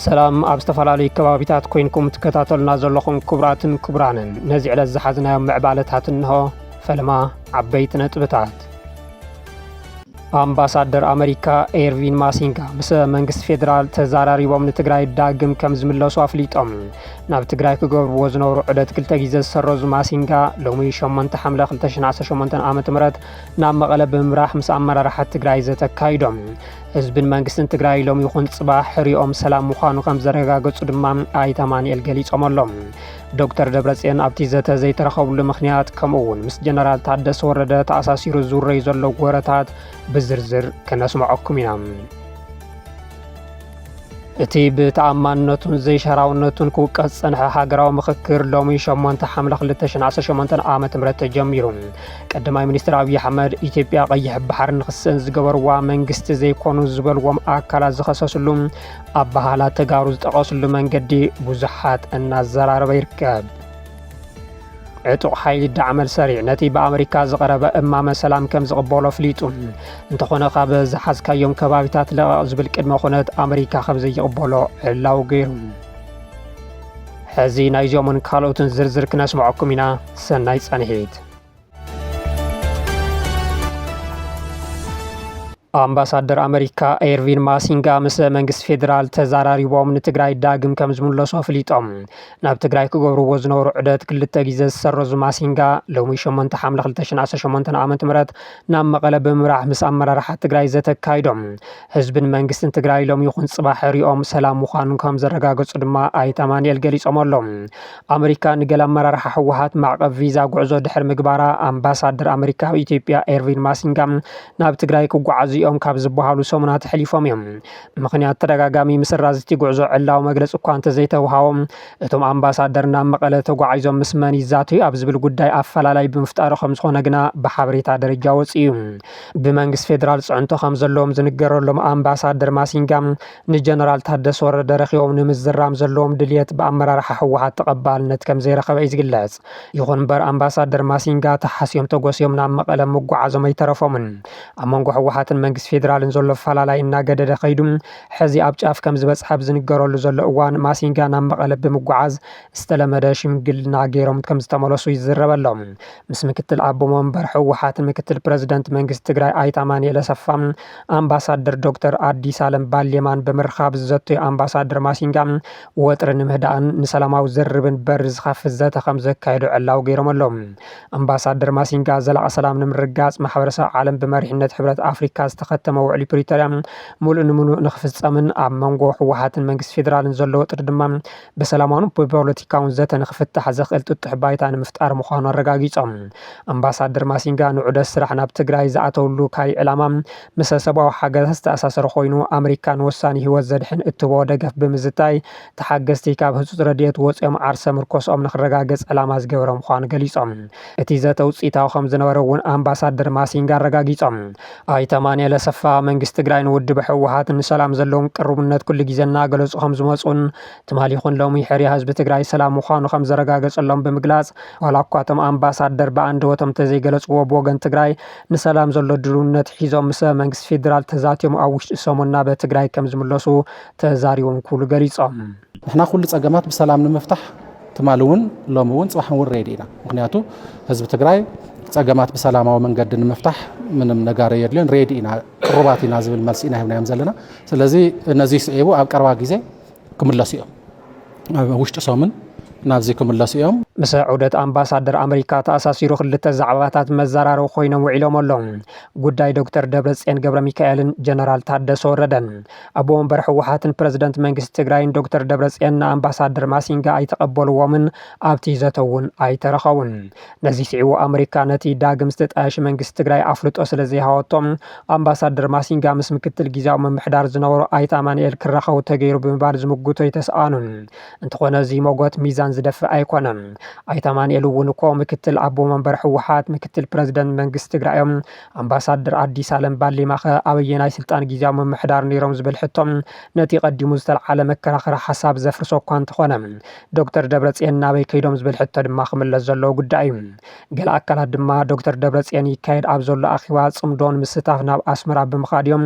ሰላም ኣብ ዝተፈላለዩ ከባቢታት ኮይንኩም ትከታተሉና ዘለኹም ክቡራትን ክቡራንን ነዚ ዕለት ዝሓዝናዮም ምዕባለታት እንሆ ፈለማ ዓበይቲ ነጥብታት ኣምባሳደር ኣመሪካ ኤርቪን ማሲንጋ ምስ መንግስቲ ፌዴራል ተዘራሪቦም ንትግራይ ዳግም ከም ዝምለሱ ኣፍሊጦም። ናብ ትግራይ ክገብርዎ ዝነበሩ ዑደት ክልተ ግዜ ዝሰረዙ ማሲንጋ ሎሚ 8 ሓምለ 2018 ዓ.ም ናብ መቐለ ብምምራሕ ምስ ኣመራርሓ ትግራይ ዘተ ኣካይዶም። ህዝብን መንግስትን ትግራይ ሎሚ ይኹን ፅባሕ ሕሪኦም ሰላም ምዃኑ ከም ዘረጋገፁ ድማ ኣይተ ኣማንኤል ገሊፆም ኣሎም። ዶክተር ደብረጽዮን ኣብቲ ዘተ ዘይተረኸብሉ ምኽንያት ከምኡ እውን ምስ ጀነራል ታደሰ ወረደ ተኣሳሲሩ ዝውረዩ ዘሎ ወረታት ብዝርዝር ክነስምዐኩም ኢና። እቲ ብተኣማንነቱን ዘይሻራውነቱን ክውቀስ ዝጸንሐ ሃገራዊ ምኽክር ሎሚ 8 ሓምለ 2018 ዓ ም ተጀሚሩ ቀዳማይ ሚኒስትር ኣብዪ ኣሕመድ ኢትዮጵያ ቀይሕ ባሕሪ ንክስእን ዝገበርዋ መንግስቲ ዘይኮኑ ዝበልዎም ኣካላት ዝኸሰስሉ ኣበሃህላ ተጋሩ ዝጠቐስሉ መንገዲ ብዙሓት እናዘራረበ ይርከብ። ዕጡቕ ሓይሊ ዳዕመል ሰሪዕ ነቲ ብኣመሪካ ዝቐረበ እማመ ሰላም ከም ዝቕበሎ ኣፍሊጡ እንተኾነ ካብ ዝሓዝካዮም ከባቢታት ለቐቕ ዝብል ቅድመ ኩነት ኣመሪካ ከም ዘይቕበሎ ዕላው ገይሩ ሕዚ ናይዞምን ካልኦትን ዝርዝር ክነስምዐኩም ኢና ሰናይ ጸንሒት ኣምባሳደር ኣመሪካ ኤርቪን ማሲንጋ ምስ መንግስቲ ፌዴራል ተዘራሪቦም ንትግራይ ዳግም ከም ዝምለሱ ኣፍሊጦም ናብ ትግራይ ክገብርዎ ዝነበሩ ዑደት ክልተ ግዜ ዝሰረዙ ማሲንጋ ሎሚ 8 ሓምለ 2018 ዓ ም ናብ መቐለ ብምብራሕ ምስ ኣመራርሓ ትግራይ ዘተካይዶም ህዝብን መንግስትን ትግራይ ሎሚ ይኹን ፅባሕ ሪኦም ሰላም ምዃኑ ከምዘረጋገፁ ድማ ኣይተ ኣማኒኤል ገሊፆም ኣለው። ኣመሪካ ንገለ ኣመራርሓ ህወሓት ማዕቐብ ቪዛ ጉዕዞ ድሕሪ ምግባራ ኣምባሳደር ኣመሪካ ኣብ ኢትዮጵያ ኤርቪን ማሲንጋ ናብ ትግራይ ክጓዓዙ እዮም ካብ ዝበሃሉ ሰሙናት ኣሕሊፎም እዮም። ምኽንያት ተደጋጋሚ ምስራዝ እቲ ጉዕዞ ዕላዊ መግለፂ እኳ እንተዘይተውሃቦ እቶም ኣምባሳደር ናብ መቐለ ተጓዒዞም ምስ መን ይዛተዩ ኣብ ዝብል ጉዳይ ኣፈላላይ ብምፍጣሩ ከምዝኾነ ግና ብሓበሬታ ደረጃ ወፂኡ። ብመንግስቲ ፌዴራል ፅዕንቶ ከምዘለዎም ዝንገረሎም ኣምባሳደር ማሲንጋ ንጀነራል ታደሰ ወረደ ረኺቦም ንምዝራም ዘለዎም ድልየት ብኣመራርሓ ህወሓት ተቐባልነት ከምዘይረኸበ እዩ ዝግለፅ። ይኹን ምበር ኣምባሳደር ማሲንጋ ተሓስዮም ተጎስዮም ናብ መቐለ ምጉዓዞም ኣይተረፎምን። ኣብ መንጎ ህወሓትን መንግስቲ ፌዴራልን ዘሎ ኣፈላላይ እናገደደ ከይዱ ሕዚ ኣብ ጫፍ ከምዝበፅሐ ኣብ ዝንገረሉ ዘሎ እዋን ማሲንጋ ናብ መቐለ ብምጉዓዝ ዝተለመደ ሽምግልና ገይሮም ከምዝተመለሱ ይዝረብ ኣሎ። ምስ ምክትል ኣቦ መንበር ህወሓትን ምክትል ፕረዚደንት መንግስቲ ትግራይ ኣይተ ኣማኒኤል ኣሰፋን ኣምባሳደር ዶክተር ኣዲሳለም ባሌማን ብምርኻብ ዝዘተዩ ኣምባሳደር ማሲንጋ ወጥሪ ንምህዳእን ንሰላማዊ ዝርርብን በሪ ዝኸፍት ዘተ ከምዘካየዱ ዕላዊ ገይሮም ኣለዉ። ኣምባሳደር ማሲንጋ ዘላቒ ሰላም ንምርግጋፅ ማሕበረሰብ ዓለም ብመሪሕነት ሕብረት ኣፍሪካ ዝተኸተመ ውዕሊ ፕሪቶርያ ሙሉእ ንሙሉእ ንክፍፀምን ኣብ መንጎ ህወሓትን መንግስቲ ፌዴራልን ዘሎ ወጥሪ ድማ ብሰላማውን ብፖለቲካውን ዘተ ንክፍታሕ ዘኽእል ጥጡሕ ባይታ ንምፍጣር ምዃኑ ኣረጋጊፆም። ኣምባሳደር ማሲንጋ ንዑደት ስራሕ ናብ ትግራይ ዝኣተውሉ ካይ ዕላማ ምሰ ሰብኣዊ ሓገዛት ዝተኣሳሰረ ኮይኑ ኣመሪካ ንወሳኒ ህይወት ዘድሕን እትህቦ ደገፍ ብምዝታይ ተሓገዝቲ ካብ ህፁፅ ረድኤት ወፂኦም ዓርሰ ምርኮስኦም ንክረጋገፅ ዕላማ ዝገበረ ምዃኑ ገሊፆም። እቲ ዘተ ውፅኢታዊ ከምዝነበረ እውን ኣምባሳደር ማሲንጋ ኣረጋጊፆም። ኣይተ ኣማኒኤል ኣሰፋ፣ መንግስቲ ትግራይ ንውድብ ህወሓት ንሰላም ዘለዎም ቅሩብነት ኩሉ ግዜ እናገለፁ ከምዝመፁን ትማሊ ይኹን ሎሚ ሕርያ ህዝቢ ትግራይ ሰላም ምዃኑ ከምዘረጋገፀሎም ብምግላፅ፣ ዋላ እኳ እቶም ኣምባሳደር ብኣንደበቶም እንተዘይገለፅዎ ብወገን ትግራይ ንሰላም ዘሎ ድልውነት ሒዞም ምስ መንግስቲ ፌዴራል ተዛትዮም ኣብ ውሽጢ ሰሙን ናብ ትግራይ ከምዝምለሱ ተዛሪቦም ክብሉ ገሊፆም። ንሕና ኩሉ ፀገማት ብሰላም ንምፍታሕ ትማሊ እውን ሎሚ እውን ፅባሕ እውን ሬዲ ኢና ምክንያቱ ህዝቢ ትግራይ ፀገማት ብሰላማዊ መንገዲ ንምፍታሕ ምንም ነጋሪ የድልዮን ሬዲ ኢና ቅሩባት ኢና ዝብል መልሲ ኢና ሂብናዮም ዘለና ስለዚ ነዚ ስዒቡ ኣብ ቀረባ ግዜ ክምለሱ እዮም ኣብ ውሽጢ ሰሙን ናብዚ ክምለሱ እዮም ምስ ዑደት ኣምባሳደር ኣመሪካ ተኣሳሲሩ ክልተ ዛዕባታት መዘራረቢ ኮይኖም ውዒሎም ኣሎም ጉዳይ ዶክተር ደብረፅዮን ገብረ ሚካኤልን ጀነራል ታደሰ ወረደን ኣቦ ወንበር ህወሓትን ፕረዚደንት መንግስቲ ትግራይን ዶክተር ደብረፅዮን ንኣምባሳደር ማሲንጋ ኣይተቐበልዎምን፣ ኣብቲ ዘተ እውን ኣይተረኸቡን። ነዚ ስዒቡ ኣመሪካ ነቲ ዳግም ዝተጣየሸ መንግስቲ ትግራይ ኣፍልጦ ስለዘይሃወቶ ኣምባሳደር ማሲንጋ ምስ ምክትል ጊዚያዊ ምምሕዳር ዝነበሩ ኣይተ ኣማኑኤል ክራኸቡ ተገይሩ ብምባል ዝምጉቶ ኣይተስኣኑን። እንተኾነ እዚ ሞጎት ሚዛን ዝደፍእ ኣይኮነን። ኣይተ ኣማኑኤል እውን እኮ ምክትል ኣቦ መንበር ህወሓት፣ ምክትል ፕረዚደንት መንግስቲ ትግራይ እዮም፣ ኣምባሳደር ኣዲስ ኣለም ባሌማኸ ኣበየናይ ስልጣን ጊዜያዊ ምምሕዳር ነይሮም ዝብል ሕቶ ነቲ ቀዲሙ ዝተልዓለ መከራኸሪ ሓሳብ ዘፍርሶ እኳ እንተኾነ ዶክተር ደብረፅየን ናበይ ከይዶም ዝብል ሕቶ ድማ ክምለስ ዘለዎ ጉዳይ እዩ። ገለ ኣካላት ድማ ዶክተር ደብረፅየን ይካየድ ኣብ ዘሎ ኣኺባ ፅምዶ ንምስታፍ ናብ ኣስመራ ብምኻድ እዮም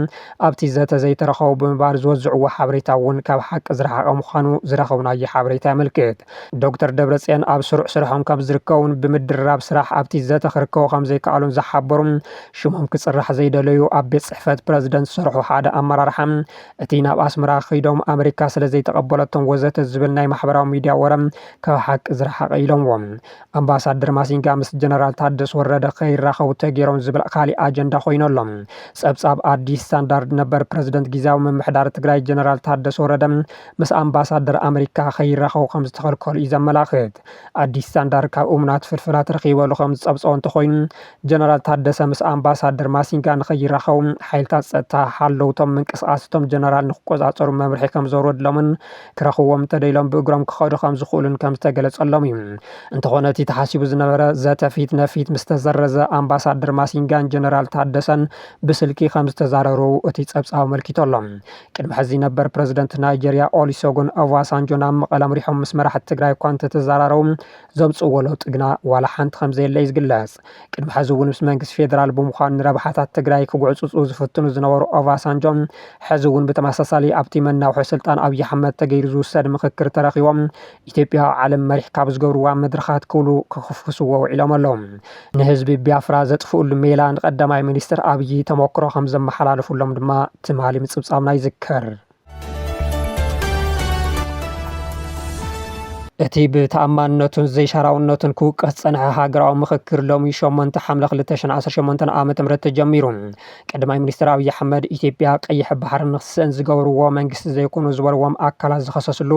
ኣብቲ ዘተ ዘይተረኸቡ ብምባል ዝወዝዕዎ ሓበሬታ እውን ካብ ሓቂ ዝረሓቐ ምዃኑ ዝረኸብናዮ ሓበሬታ የመልክት። ዶክተር ደብረፅዮን ኣብ ስሩዕ ስርሖም ከምዝርከቡን ብምድርራብ ስራሕ ኣብቲ ዘተ ክርከቡ ከምዘይከኣሉን ዝሓበሩ ሽሞም ክፅራሕ ዘይደለዩ ኣብ ቤት ፅሕፈት ፕረዚደንት ዝሰርሑ ሓደ ኣመራርሓ እቲ ናብ ኣስመራ ክይዶም ኣመሪካ ስለዘይተቐበለቶም ወዘተ ዝብል ናይ ማሕበራዊ ሚድያ ወረ ካብ ሓቂ ዝረሓቐ ኢሎምዎ። ኣምባሳደር ማሲንጋ ምስ ጀነራል ታደስ ወረደ ከይራኸቡ ተገይሮም ዝብል ካሊእ ኣጀንዳ ኮይኑ ኣሎ። ፀብፃብ ኣዲስ ስታንዳርድ ነበር ፕረዚደንት ጊዚያዊ ምምሕዳር ትግራይ ጀነራል ታደሰ ወረደ ምስ ኣምባሳደር ኣመሪካ ከይራኸቡ ከም ዝተኸልከሉ እዩ ዘመላኽት። ኣዲስ ስታንዳርድ ካብ እሙናት ፍልፍላት ረኺበሉ ከም ዝጸብጸቦ እንተኾይኑ፣ ጀነራል ታደሰ ምስ ኣምባሳደር ማሲንጋ ንከይራኸቡ ሓይልታት ጸጥታ ሓለውቶም ምንቅስቓስ እቶም ጀነራል ንክቆጻጸሩ መምርሒ ከም ዘውረድሎምን ክረኽብዎም እንተደይሎም ብእግሮም ክኸዱ ከም ዝኽእሉን ከም ዝተገለጸሎም እዩ። እንተኾነ እቲ ተሓሲቡ ዝነበረ ዘተ ፊት ነፊት ምስ ተሰረዘ፣ ኣምባሳደር ማሲንጋን ጀነራል ታደሰን ብስልኪ ከም ዝተዛረሩ እቲ ጸብጻብ ኣመልኪቱ ኣሎ። ቅድሚ ሕዚ ነበር ፕረዚደንት ናይጀርያ ኦሊሶጎን ኦቫሳንጆ ናብ መቐለ ኣምሪሖም ምስ መራሕቲ ትግራይ እኳ እንተተዘራረቡ ዘምፅእዎ ለውጢ ግና ዋላ ሓንቲ ከምዘየለ እዩ ዝግለፅ። ቅድሚ ሕዚ እውን ምስ መንግስቲ ፌደራል ብምዃን ንረብሓታት ትግራይ ክጉዕፅፁ ዝፍትኑ ዝነበሩ ኦቫሳንጆ ሕዚ እውን ብተመሳሳሊ ኣብቲ መናውሒ ስልጣን ኣብዪ ኣሕመድ ተገይሩ ዝውሰድ ምኽክር ተረኺቦም ኢትዮጵያ ኣብ ዓለም መሪሕ ካብ ዝገብርዋ መድረኻት ክብሉ ክኹፍኩስዎ ውዒሎም ኣለዉ። ንህዝቢ ቢያፍራ ዘጥፍእሉ ሜላ ንቀዳማይ ሚኒስትር ኣብዪ ተሞክሮ ከም ዘመሓላለፉሎም ድማ ትማሊ ምፅብፃብና ይዝከር። እቲ ብተኣማንነቱን ዘይሻራውነቱን ክውቀስ ዝጸንሐ ሃገራዊ ምኽክር ሎሚ ሸሞንተ ሓምለ ክልተ ሽሕን ዓሰርተ ሸሞንተን ዓመተ ምህረት ተጀሚሩ። ቀዳማይ ሚኒስትር ኣብዪ ኣሕመድ ኢትዮጵያ ቀይሕ ባሕሪ ንክትስእን ዝገብርዎ መንግስቲ ዘይኮኑ ዝበልዎም ኣካላት ዝኸሰስሉ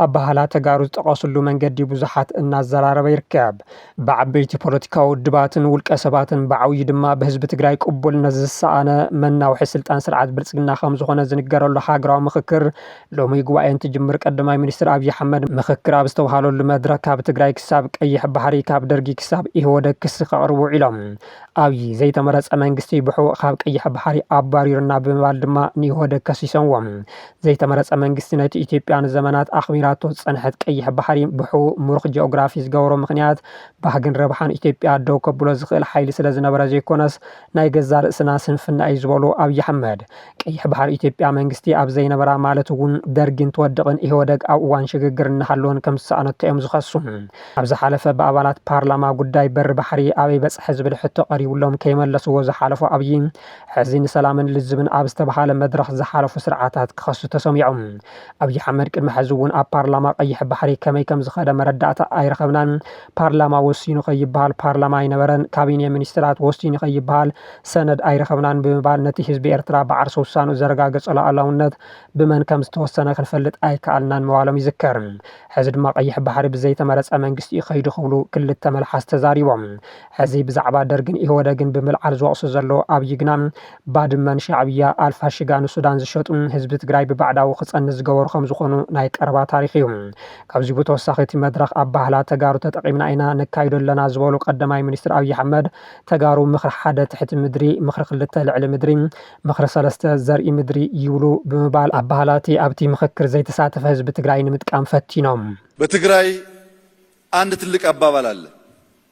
ኣባህላ ተጋሩ ዝጠቐስሉ መንገዲ ብዙሓት እናዘራረበ ይርከብ። ብዓበይቲ ፖለቲካዊ ውድባትን ውልቀ ሰባትን ብዓብዩ ድማ ብህዝቢ ትግራይ ቅቡልነት ዝሰኣነ መናውሒ ስልጣን ስርዓት ብልፅግና ከምዝኾነ ዝንገረሉ ሃገራዊ ምኽክር ሎሚ ጉባኤ እንትጅምር ቀዳማይ ሚኒስትር ኣብይ ኣሕመድ ምኽክር ኣብ ዝተብሃለሉ መድረኽ ካብ ትግራይ ክሳብ ቀይሕ ባሕሪ ካብ ደርጊ ክሳብ ኢህወደግ ክሲ ከቕርቡ ውዒሎም። ኣብይ ዘይተመረፀ መንግስቲ ብሕቡእ ካብ ቀይሕ ባሕሪ ኣባሪሩና ብምባል ድማ ንኢህወደግ ከሲሶምዎም። ዘይተመረጸ መንግስቲ ነቲ ኢትዮጵያ ንዘመናት ኣኽቢራቶ ዝጸንሐት ቀይሕ ባሕሪ ብሕቡእ ምሩኽ ጂኦግራፊ ዝገበሮ ምኽንያት ባህግን ረብሓን ኢትዮጵያ ደው ከብሎ ዝኽእል ሓይሊ ስለ ዝነበረ ዘይኮነስ ናይ ገዛእ ርእስና ስንፍና እዩ ዝበሉ ኣብይ ኣሕመድ ቀይሕ ባሕሪ ኢትዮጵያ መንግስቲ ኣብ ዘይነበራ ማለት እውን ደርጊ እንትወድቕን ኢህወደግ ኣብ እዋን ሽግግር እናሃለወን ከም ዝሰኣነቶ እዮም ዝኸሱ። ኣብ ዝሓለፈ ብኣባላት ፓርላማ ጉዳይ በሪ ባሕሪ ኣበይ በጽሐ ዝብል ሕቶ ቀሪብሎም ከይመለስዎ ዝሓለፉ ኣብይ፣ ሕዚ ንሰላምን ልዝብን ኣብ ዝተብሃለ መድረኽ ዝሓለፉ ስርዓታት ክኸሱ ተሰሚዖም። ኣብዪ ኣሕመድ ቅድሚ ሕዚ እውን ኣብ ፓርላማ ቀይሕ ባሕሪ ከመይ ከም ዝኸደ መረዳእታ ኣይረኸብናን፣ ፓርላማ ወሲኑ ከይብሃል ፓርላማ ኣይነበረን፣ ካቢኔ ሚኒስትራት ወሲኑ ከይብሃል ሰነድ ኣይረኸብናን ብምባል ነቲ ህዝቢ ኤርትራ ብዓርሰ ውሳንኡ ዘረጋገጾ ሉኣላውነት ብመን ከም ዝተወሰነ ክንፈልጥ ኣይከኣልናን ምባሎም ይዝከር። ሕዚ ድማ ቀይሕ ባሕሪ ብዘይተመረጸ መንግስቲ እዩ ከይዱ ክብሉ ክልተ መልሓስ ተዛሪቦም። ሕዚ ብዛዕባ ደርግን ኢህወደግን ብምልዓል ዝወቕሱ ዘለዉ ኣብይ ግና ባድመ ንሻዕብያ፣ ኣልፋሽጋ ንሱዳን ዝሸጡን ህዝቢ ትግራይ ብባዕዳዊ ክፀንት ዝገበሩ ከምዝኾኑ ናይ ቀረባ ታሪኽ እዩ። ካብዚ ብተወሳኺ እቲ መድረኽ ኣባህላ ተጋሩ ተጠቒምና ኢና ነካይዶ ኣለና ዝበሉ ቀዳማይ ሚኒስትር ኣብይ ኣሕመድ ተጋሩ ምኽሪ ሓደ ትሕቲ ምድሪ፣ ምኽሪ ክልተ ልዕሊ ምድሪ፣ ምኽሪ ሰለስተ ዘርኢ ምድሪ ይብሉ ብምባል ኣባህላ እቲ ኣብቲ ምኽክር ዘይተሳተፈ ህዝቢ ትግራይ ንምጥቃም ፈቲኖም። በትግራይ ኣንድ ትልቅ ኣባባል ኣለ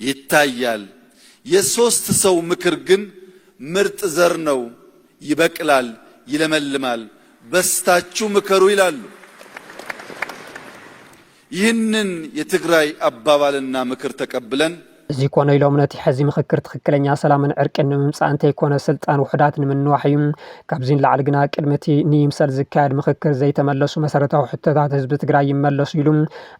ይታያል የሶስት ሰው ምክር ግን ምርጥ ዘር ነው ይበቅላል ይለመልማል በስታቹ ምከሩ ይላሉ ይህንን የትግራይ አባባል እና ምክር ተቀብለን እዚ ኮነ ኢሎም ነቲ ሕዚ ምኽክር ትኽክለኛ ሰላምን ዕርቅን ንምምፃእ እንተይኮነ ስልጣን ውሑዳት ንምንዋሕ እዩ። ካብዚ ንላዕሊ ግና ቅድሚ እቲ ንይምሰል ዝካየድ ምኽክር ዘይተመለሱ መሰረታዊ ሕቶታት ህዝቢ ትግራይ ይመለሱ ኢሉ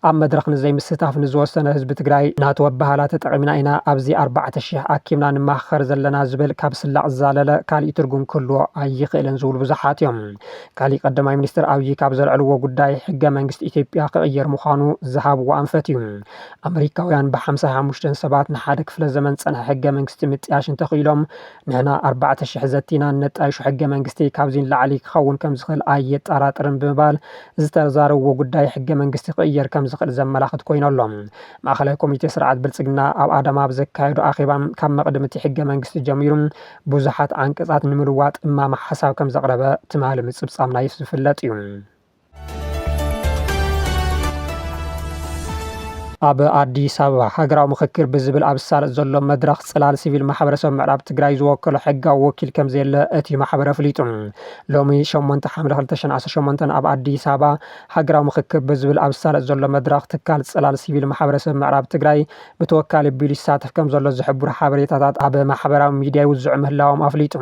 ኣብ መድረኽ ንዘይምስታፍ ንዝወሰነ ህዝቢ ትግራይ ናቱ ኣበሃህላ ተጠቒምና ኢና ኣብዚ ኣርባዕተ ሽሕ ኣኪብና ንማሃኸር ዘለና ዝብል ካብ ስላቕ ዝዛለለ ካሊእ ትርጉም ክህልዎ ኣይኽእልን ዝብሉ ብዙሓት እዮም። ካሊእ ቀዳማይ ሚኒስትር ኣብዪ ካብ ዘልዐልዎ ጉዳይ ሕገ መንግስቲ ኢትዮጵያ ክቕየር ምዃኑ ዝሃብዎ ኣንፈት እዩ። ኣመሪካውያን ብሓምሳ ሓሙሽተ ሰባት ንሓደ ክፍለ ዘመን ዝፀንሐ ሕገ መንግስቲ ምጥያሽ እንተኽኢሎም ንሕና ኣርባዕተ ሽሕ ዘቲ ኢና ነጣይሾ፣ ሕገ መንግስቲ ካብዚ ንላዕሊ ክኸውን ከም ዝኽእል ኣየጠራጥርን ብምባል ዝተዛረብዎ ጉዳይ ሕገ መንግስቲ ክቕየር ከም ዝኽእል ዘመላኽት ኮይኑ ኣሎ። ማእኸላይ ኮሚቴ ስርዓት ብልፅግና ኣብ ኣዳማ ኣብ ዘካየዶ ኣኼባ ካብ መቕድም እቲ ሕገ መንግስቲ ጀሚሩ ብዙሓት ዓንቀፃት ንምልዋጥ እማመ ሓሳብ ከም ዘቕረበ ትማሊ ምፅብፃብና ዝፍለጥ እዩ። ኣብ ኣዲስ ኣበባ ሃገራዊ ምኽክር ብዝብል ኣብ ዝሳለጥ ዘሎ መድረኽ ጽላል ሲቪል ማሕበረሰብ ምዕራብ ትግራይ ዝወከሎ ሕጋዊ ወኪል ከም ዘየለ እቲ ማሕበረ ኣፍሊጡ። ሎሚ 8 ሓምለ 2018 ኣብ ኣዲስ ኣበባ ሃገራዊ ምኽክር ብዝብል ኣብ ዝሳለጥ ዘሎ መድረኽ ትካል ጽላል ሲቪል ማሕበረሰብ ምዕራብ ትግራይ ብተወካሊ ኣቢሉ ይሳተፍ ከምዘሎ ዝሕብሩ ሓበሬታታት ኣብ ማሕበራዊ ሚዲያ ይውዝዑ ምህላዎም ኣፍሊጡ።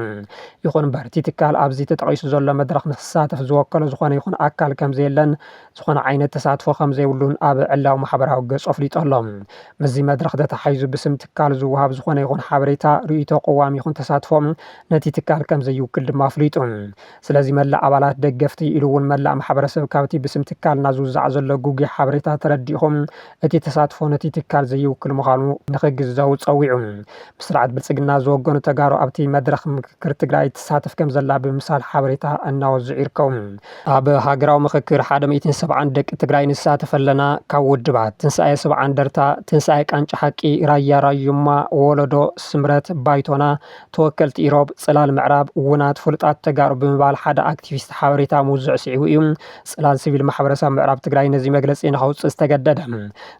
ይኹን'ምበር እቲ ትካል ኣብዚ ተጠቒሱ ዘሎ መድረኽ ንክሳተፍ ዝወከሎ ዝኾነ ይኹን ኣካል ከምዘየለን ዝኾነ ዓይነት ተሳትፎ ከምዘይብሉን ኣብ ዕላዊ ማሕበራዊ ገፁ ኣፍሊጡ ኣሎ። ምስዚ መድረኽ ተተሓሒዙ ብስም ትካል ዝወሃብ ዝኾነ ይኹን ሓበሬታ፣ ርእይቶ፣ ቅዋም ይኹን ተሳትፎ ነቲ ትካል ከምዘይውክል ድማ ኣፍሊጡ። ስለዚ መላእ ኣባላት፣ ደገፍቲ፣ ኢሉ እውን መላእ ማሕበረሰብ ካብቲ ብስም ትካልና ዝውዛዕ ዘሎ ግጉይ ሓበሬታ ተረዲእኹም እቲ ተሳትፎ ነቲ ትካል ዘይውክል ምዃኑ ንክግዘቡ ፀዊዑ። ምስ ስርዓት ብልፅግና ዝወገኑ ተጋሩ ኣብቲ መድረኽ ምክክር ትግራይ ትሳተፍ ከምዘላ ብምምሳል ሓበሬታ እናወዝዑ ይርከቡ። ኣብ ሃገራዊ ምክክር ሓደ ሚእትን ሰብዓን ደቂ ትግራይ ንሳተፍ ኣለና፣ ካብ ውድባት፣ ትንሳኤ ሰብዓ እንደርታ፣ ትንሳኤ ቃንጫ ሓቂ፣ ራያ ራዩማ፣ ወለዶ፣ ስምረት፣ ባይቶና፣ ተወከልቲ ኢሮብ፣ ጽላል ምዕራብ፣ ውናት ፍሉጣት ተጋሩ ብምባል ሓደ ኣክቲቪስት ሓበሬታ ምውዝዑ ስዒቡ እዩ ጽላል ሲቪል ማሕበረሰብ ምዕራብ ትግራይ ነዚ መግለጺ ንኸውጽእ ዝተገደደ።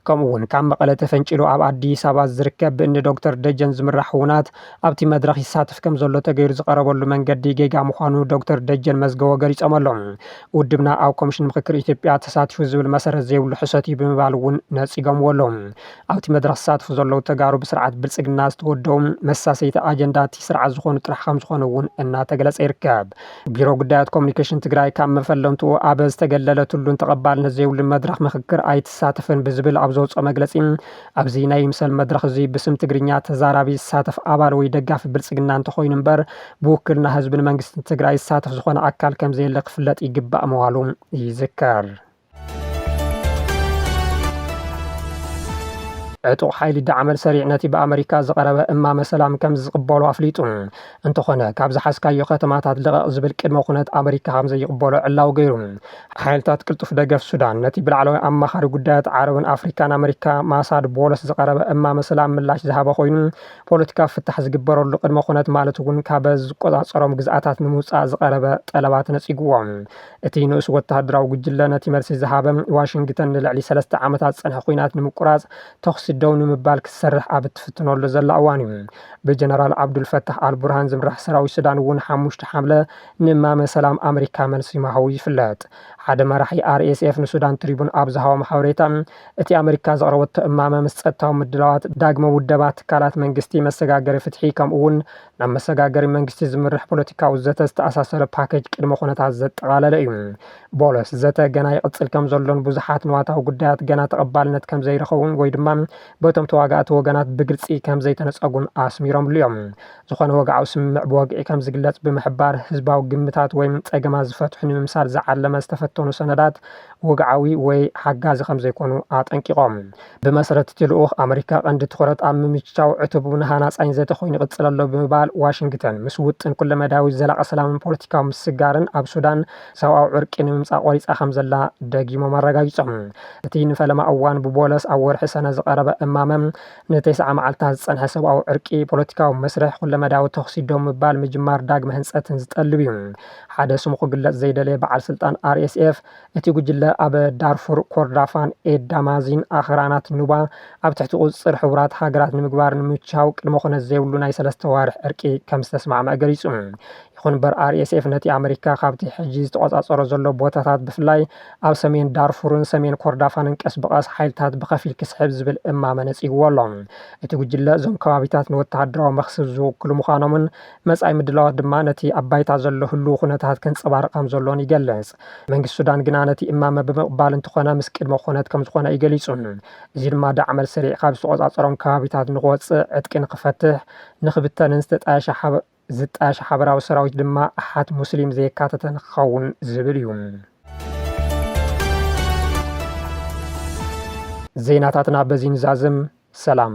ከምኡ እውን ካብ መቐለ ተፈንጪሉ ኣብ ኣዲስ ኣበባ ዝርከብ ብእኒ ዶክተር ደጀን ዝምራሕ ውናት ኣብቲ መድረኽ ይሳተፍ ከምዘሎ ተገይሩ ዝቐረበሉ መንገዲ ጌጋ ምዃኑ ዶክተር ደጀን መዝገቦ ገሊጾም ኣለው። ውድብና ኣብ ኮሚሽን ምኽክር ኢትዮጵያ ተሳቲፉ ዝብል መሰረት ዘይብሉ ሕሶት እዩ ብምባል እውን ነጺጎምዎ ኣለው። ኣብቲ መድረኽ ዝሳተፉ ዘለዉ ተጋሩ ብስርዓት ብልፅግና ዝተወደቡ መሳሰይቲ ኣጀንዳ እቲ ስርዓት ዝኾኑ ጥራሕ ከምዝኾኑ እውን እናተገለፀ ይርከብ። ቢሮ ጉዳያት ኮሙኒኬሽን ትግራይ ካብ መፈለምትኡ ኣብ ዝተገለለትሉን ተቐባልነት ዘይብሉን መድረኽ ምኽክር ኣይትሳተፍን ብዝብል ኣብ ዘውፅኦ መግለፂ ኣብዚ ናይ ይምሰል መድረኽ እዙይ ብስም ትግርኛ ተዛራቢ ዝሳተፍ ኣባል ወይ ደጋፊ ብልፅግና እንተኾይኑ እምበር ብውክልና ህዝብን መንግስትን ትግራይ ዝሳተፍ ዝኾነ ኣካል ከምዘየለ ክፍለጥ ይግባእ ምባሉ ይዝከር። ዕጡቕ ሓይሊ ዳዕመል ሰሪዕ ነቲ ብኣመሪካ ዝቐረበ እማመ ሰላም ከም ዝቕበሎ ኣፍሊጡ። እንተኾነ ካብ ዝሓዝካዮ ከተማታት ልቐቕ ዝብል ቅድመ ኩነት ኣመሪካ ከም ዘይቕበሎ ዕላዊ ገይሩ። ሓይልታት ቅልጡፍ ደገፍ ሱዳን ነቲ ብላዕለዋይ ኣማኻሪ ጉዳያት ዓረብን ኣፍሪካን ኣመሪካ ማሳድ ቦለስ ዝቐረበ እማመ ሰላም ምላሽ ዝሃበ ኮይኑ ፖለቲካዊ ፍታሕ ዝግበረሉ ቅድመ ኩነት ማለት እውን ካበ ዝቆፃፀሮም ግዝኣታት ንምውፃእ ዝቐረበ ጠለባት ነፂጉዎም። እቲ ንኡስ ወተሃደራዊ ጉጅለ ነቲ መልሲ ዝሃበ፣ ዋሽንግተን ንልዕሊ ሰለስተ ዓመታት ዝጸንሐ ኲናት ንምቁራጽ ተዅሲ ደው ንምባል ክትሰርሕ ኣብ እትፍትነሉ ዘላ እዋን'ዩ። ብጀነራል ዓብዱል ፈታሕ ኣል ቡርሃን ዝምራሕ ሰራዊት ሱዳን እውን ሓሙሽተ ሓምለ ንእማመ ሰላም ኣመሪካ መልሲ ምሃቡ ይፍለጥ። ሓደ መራሒ RSF ንሱዳን ትሪቡን ኣብ ዝሃቦም ሓበሬታ፣ እቲ ኣመሪካ ዘቕረበቶ እማመ ምስ ጸጥታዊ ምድላዋት፣ ዳግመ ውደባ ትካላት መንግስቲ፣ መሰጋገሪ ፍትሒ ከምኡ'ውን ናብ መሰጋገሪ መንግስቲ ዝምርሕ ፖለቲካዊ ዘተ ዝተኣሳሰረ ፓኬጅ ቅድመ ኩነታት ዘጠቓለለ እዩ። ቦሎስ፣ ዘተ ገና ይቕጽል ከምዘሎን ብዙሓት ንዋታዊ ጉዳያት ገና ተቐባልነት ከምዘይረኸቡን ወይ ድማ በቶም ተዋጋእቲ ወገናት ብግልጺ ከምዘይተነጸጉን ኣስሚሮምሉ እዮም። ዝኾነ ወግዓዊ ስምምዕ ብወግዒ ከምዝግለጽ ብምሕባር፣ ህዝባዊ ግምታት ወይ ጸገማት ዝፈትሑ ንምምሳል ዝዓለመ ዝተፈተኑ ሰነዳት ወግዓዊ ወይ ሓጋዚ ከምዘይኮኑ ኣጠንቂቖም። ብመሰረት እቲ ልኡኽ፣ ኣመሪካ ቀንዲ ትኹረት ኣብ ምምችቻው ዕቱብን ሃናጻይን ዘተ ኮይኑ ይቕጽል ኣሎ ብምባል፣ ዋሽንግተን ምስ ውጥን ኩለመዳያዊ ዘላቒ ሰላምን ፖለቲካዊ ምስግጋርን ኣብ ሱዳን ሰብኣዊ ዕርቂ ንምምጻእ ቆሪጻ ከምዘላ ደጊሞም ኣረጋጊጾም። እቲ ንፈለማ እዋን ብቦለስ ኣብ ወርሒ ሰነ ዝቐረበ እማመ፣ ንተስዓ መዓልታት ዝጸንሐ ሰብኣዊ ዕርቂ፣ ፖለቲካዊ መስርሕ፣ ኩለመዳያዊ ተኹሲ ደው ምባል፣ ምጅማር ዳግመ ህንጸትን ዝጠልብ'ዩ። ሓደ ስሙ ክግለጽ ዘይደለየ በዓል ስልጣን RSF፣ እቲ ጉጅለ ኣብ ዳርፉር፣ ኮርዳፋን ኤዳማዚን ኣኽራናት ኑባ ኣብ ትሕቲ ቁፅፅር ሕቡራት ሃገራት ንምግባር ንምችቻው ቅድመ ኹነት ዘይብሉ ናይ ሰለስተ ኣዋርሕ ዕርቂ ከምዝተስማዕመዐ ገሊፁ። ይኹን'ምበር RSF ነቲ ኣመሪካ ካብቲ ሕጂ ዝተቖፃፀሮ ዘሎ ቦታታት ብፍላይ ኣብ ሰሜን ዳርፉርን ሰሜን ኮርዳፋንን ቀስ ብቐስ ሓይልታት ብኸፊል ክስሕብ ዝብል እማመ ነፂግዎ ኣሎ። እቲ ጉጅለ እዞም ከባቢታት ንወተሃደራዊ መኽስብ ዝውክሉ ምዃኖምን መፃኢ ምድላዋት ድማ ነቲ ኣብ ባይታ ዘሎ ህሉው ኹነታት ከንፀባርቕ ከምዘሎን ይገልፅ። መንግስቲ ሱዳን ግና ነቲ እማመ ብምቕባል እንተኾነ ምስ ቅድመ ኩነት ከምዝኾነ እዩ ገሊጹ። እዚ ድማ ዳዕመል ሰሪዕ ካብ ዝተቖጻጸሮም ከባቢታት ንክወጽእ፣ ዕጥቂ ንክፈትሕ፣ ንክብተንን ዝተጣየሸ ሓበ ዝጣየሽ ሓበራዊ ሰራዊት ድማ ኣሓት ሙስሊም ዘየካተተ ንክኸውን ዝብል እዩ። ዜናታትና በዚ ንዛዝም። ሰላም።